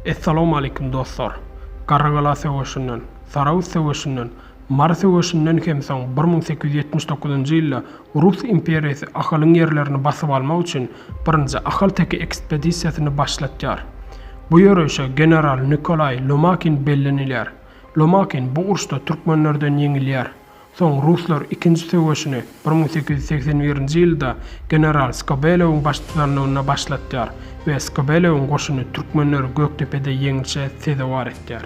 Essalawmaleýkim dostlar! Garrygala söweşinden, Sarahus söweşinden, Mary söweşinden hem soň bir müň sekiz ýüz ýetmiş dokuzynjy ýylda Rus imperiýasy Ahalyň ýerlerini basyp almak üçin birinji Ahal teke ekspedisiýasyny başlatýar. Bu ýörişe general Nikolaý Lomakin bellenilýär. Lomakin bu uruşda türkmenlerden ýeňilýär. Soň ruslar ikinji söweşini bir müň sekiz ýüz segsen birinji ýylda general Skobelewiň baştutanlygynda başlatýar we Skobelewiň goşuny türkmenleri Gökdepede ýeňişe sezewar etýär.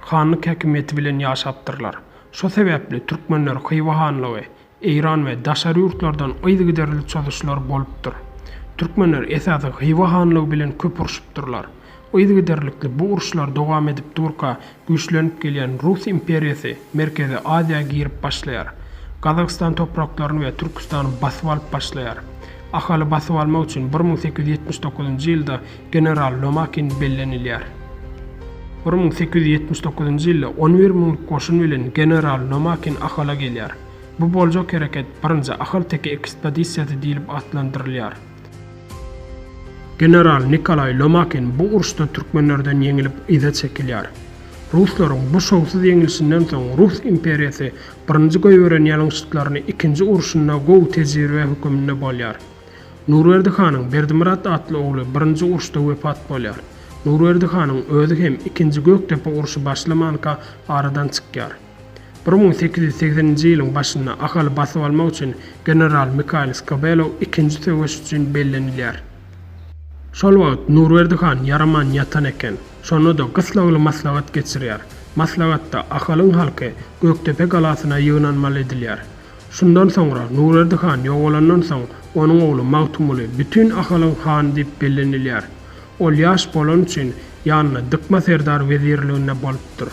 Hanlyk häkimiýeti bilen ýaşapdyrlar. Şo sebäpli türkmenler Hywa hanlygy, Eýran we daşary ýurtlardan yzygiderli çozuşlar bolupdyr. Türkmenler esasy Hywa hanlygy bilen köp urşupdyrlar. Yzygiderlikli bu uruşlar dowam edip durka güýçlenip gelýän Rus imperiýasy Merkezi Aziýa girip başlaýar. Gazagystan topraklaryny we Türküstany basyp alyp başlaýar. Ahaly basyp almak üçin bir müň sekiz ýüz ýetmiş dokuzynjy ýylda general Lomakin bellenilýär. Bir müň sekiz ýüz ýetmiş dokuzynjy ýylda on bir müňlük goşun bilen general Lomakin Ahala gelýär. Bu boljak hereket Birinji Ahal teke ekspedisiýasy diýlip atlandyrylýar. General Nikolaý Lomakin bu uruşda türkmenlerden ýeňilip yza çekilýär. Ruslaryň bu şowsuz ýeňilişinden soň Rus imperiýasy Birinji Goýberen ýalňyşyklaryny ikinji urşunda gowy tejribe höküminde bolýar. Nurberdi hanyň Berdimyrat atly ogly birinji uruşda wepat bolýar. Nurberdi hanyň özi hem ikinji Gökdepe urşy başlamanka aradan çykýar. Bir müň sekiz ýüz segseninji ýylyň başynda Ahaly basyp almak üçin general Mikaýyl Skobelow ikinji söweş üçin bellenilýär. Şol wagt Nurberdi han ýaraman ýatan eken. Şonda-da gyssagly maslahat geçirýär. Maslahatda Ahalyň halky Gökdepe galasyna ýygnanmaly edilýär. Şundan soňra Nurberdi han ýogalandan soň, onuň ogly Magtymguly bütin Ahalyň hany diýip bellenilýär. Ol ýaş bolany üçin ýanynda Dykma serdar wezirliginde bolupdyr.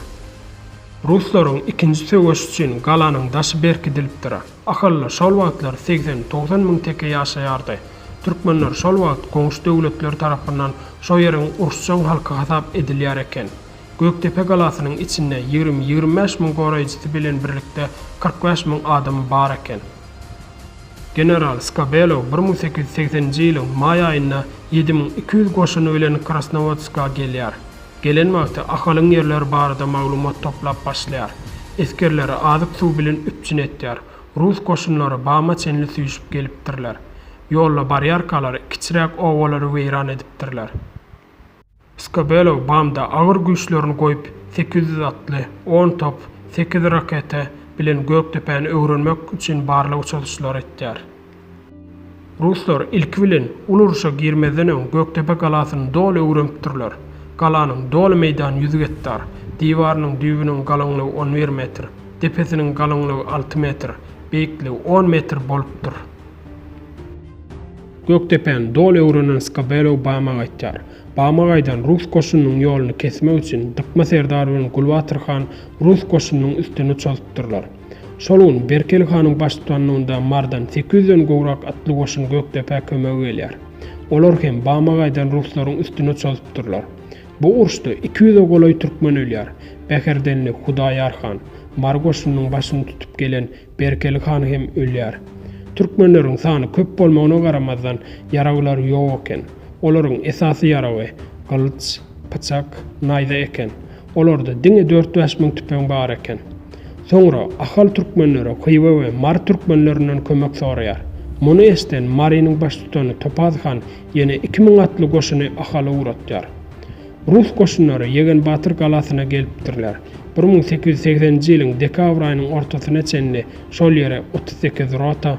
Ruslaryň ikinji söweşi üçin galanyň daşy berkidilipdir. Ahalda şol wagtlar segsen-togsan müň teke ýaşaýardy. Türkmenler şol wagt goňşy döwletler tarapyndan şo ýeriň uruşjaň halky hasap edilýär eken. Gökdepe galasynyň içinde ýigrimi-ýigrimi bäş müň goraýjysy bilen birlikde kyrk bäş müň adamy bar eken. General Skobelew bir müň sekiz ýüz segseninji ýylyň maý aýynda ýedi müň iki ýüz goşuny bilen Krasnowodska gelýär. Gelen wagty Ahalyň ýerleri barada maglumat toplap başlaýar. Esgerleri azyk-suw bilen üpjün etýär. Rus goşunlary Bama çenli süýşüp gelipdirler. Ýolda barýarkalar kiçiräk obalary weýran edipdirler. Skabelo Bamda agyr güýçlerini goýup, sekiz ýüz atly, on top, sekiz raketa bilen Gökdepäni öwrenmek üçin barlag uçaryşlary etýär. Ruslar ilki bilen uly urşa girmezden öň Gökdepe galasyny doly öwrenipdirler. Galanyň doly meýdany ýüz gektar, diwarynyň düýbüniň galyňlygy on bir metr, depesiniň galyňlygy alty metr, beýikligi on metr bolupdyr. Gökdepäni doly öwrenen Skobelew Bama gaýtýar. Bama gaýdan rus goşunynyň ýoluny kesmek üçin Dykma serdar bilen Gulbatyr han rus goşunynyň üstüne çozupdyrlar. Şol gün Berkeli hanyň baştutanlygynda Mardan sekiz ýüzden gowrak atly goşun Gökdepä kömege gelýär. Olar hem Bama gaýdan ruslaryň üstüne çozupdyrlar. Bu uruşda iki ýüze golaý türkmen ölýär. Bäherdenli Hudaýar han, Mary goşunynyň başyny tutup gelen Berkeli han hem ölýär. Türkmenleriň sany köp bolmagyna garamazdan, ýaragylary ýok eken. Olaryň esasy ýaragy, gylyç, pyçak, naýza eken. Olarda diňe dört-bäş müň tüpeň bar eken. Soňra Ahal türkmenleri Hywa we Mary türkmenlerinden kömek soraýar. Muny eşden Marynyň baştutany Topaz han ýene iki müň atly goşuny Ahala ugratýar. Rus goşunlary Ýegen batyr galasyna gelipdirler. Bir müň sekiz ýüz segseninji ýylyň dekabr aýynyň ortasyna çenli şol ýere otuz sekiz rota,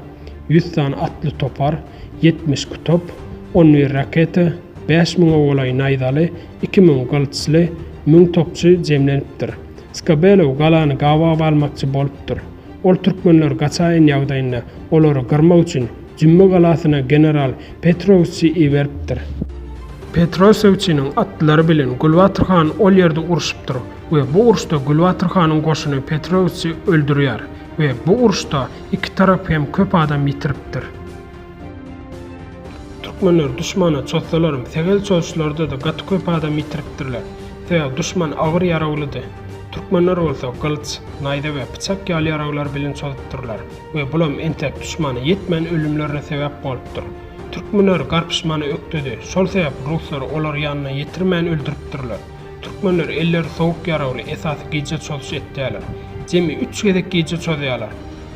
ýüz sany atly topar, ýetmiş kutop, on bir raketa, bäş müňe golaý naýzaly, iki müň gylyçly, müň topçy jemlenipdir. Skabelow galany gabaw almakçy bolupdyr. Ol türkmenler gaçaýyn ýagdaýynda olary gyrmak üçin Jümme galasyna general Petrowsçy iberipdir. Petrowsewçiniň atlary bilen Gulbatyr han ol ýerde urşupdyr we bu urşda Gulbatyr hanyň goşuny Petrowsçy öldürýär we bu urşda iki tarap hem köp adam ýitiripdir. Türkmenler duşmana çozsalaram tegel çozuşlarda-da gaty köp adam ýitiripdirler. Sebäbi duşman agyr ýaraglydy. Türkmenler bolsa gylyç, naýza we pyçak ýaly ýaraglar bilen çozupdyrlar we bulam entek duşmana ýetmän ölümlerine sebäp bolupdyr. Türkmenler garpyşmany ökdedi, şol sebäp ruslar olary ýanyna ýetirmän öldüripdirler. Türkmenler elleri sowuk ýaragly esasy gije çozuş etýärler. Jemi üç gezek gije çozýarlar.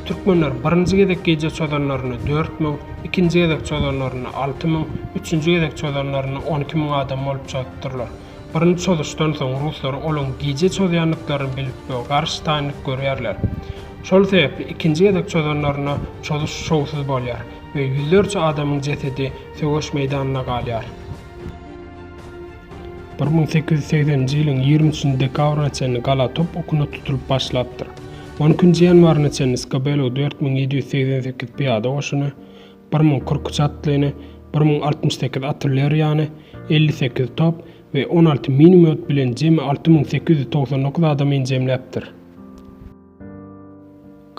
Türkmenler birinji gezek gije çozanlarynda dört müň, ikinji gezek çozanlarynda alty müň, üçünji gezek çozanlarynda on iki müň adam bolup çozuppdyrlar. Birinji çozuşdan soň ruslar olaryň gije çozýandyklaryny bilip we garşy taýynlyk görýärler. Şol sebäpli ikinji gezek çozanlarynda çozuş şowsuz bolýar we ýüzlerçe adamyň jesedi söweş meýdanynda galýar. Bir müň sekiz ýüz segseninji ýylyň ýigrimi üçünji dekabryna çenli gala top okuna tutulyp başlapdyr. On ikinji ýanwaryna çenli Skobelew dört müň ýedi ýüz segsen sekiz pyýada goşuny, bir müň kyrk üç atlyny, bir müň altmyş sekiz artilleriýany, elli sekiz top we on alty minomýot bilen jemi alty müň sekiz ýüz togsan dokuz adamyn jemläpdir.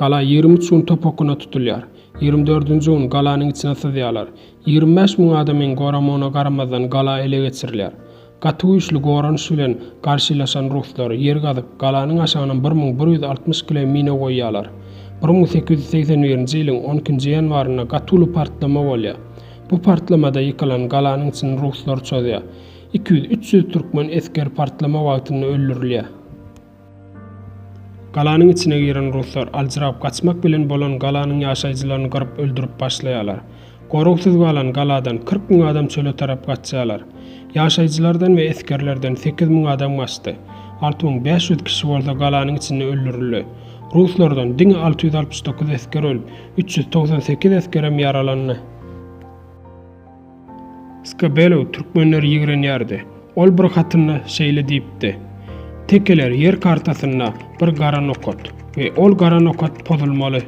Gala ýigrimi üç gün topakgyna tutulýar. Ýigrimi dördünji gün galanyň içine syzýarlar. Ýigrimi bäş müň adamyň goramagyna garamazdan gala ele geçirilýär. Gaty güýçli goranyş bilen garşylaşan ruslar ýer gazyp, galanyň aşagyna bir müň bir ýüz altmyş kile mina goýýarlar. Bir müň sekiz ýüz segsen birinji ýylyň on ikinji ýanwarynda gaty uly partlama bolýar. Bu partlamada ýykylan galanyň içini ruslar çozýar. Iki ýüz, üç ýüz türkmen esgeri partlama wagtynda öldürilýär. Galanyň içine giren ruslar aljyrap gaçmak bilen bolan galanyň ýaşaýjylaryny gyryp öldürip başlaýarlar. Goragsyz galan galadan kyrk müň adam çöle tarap gaçýarlar. Ýaşaýjylardan we esgerlerden sekiz müň adam gaçdy. Alty müň bäş ýüz kişi bolsa galanyň içinde öldürildi. Ruslardan diňe alty ýüz altmyş dokuz esger ölüp, üç ýüz togsan sekiz esgerem ýaralandy. Skabelo türkmenleri ýigrenýärdi. Ol bir hatynda şeýle diýipdi, Tekeler ýer kartasynda bir gara nokat we ol gara nokat pozulmaly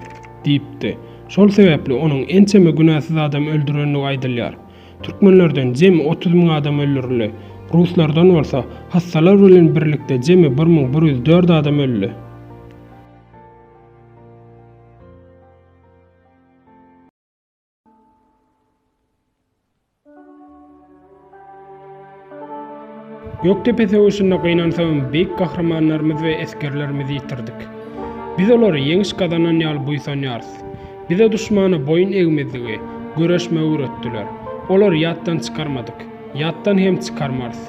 diýipdi. Şol sebäpli onuň ençeme günäsiz adam öldürendigi aýdylýar. Türkmenlerden jemi otuz müň adam öldürildi. Ruslardan bolsa hassalar bilen birlikde jemi bir müň bir ýüz dört adam öldi. Gökdepe söweşinde gynansagam beýik gahrymanlarymyz we esgerlerimizi ýitirdik. Biz olary ýeňiş gazanan ýaly buýsanýarys. Bize duşmana boýun egmezligi, göreşmegi öwretdiler. Olary ýatdan çykarmadyk. Ýatdan hem çykarmarys.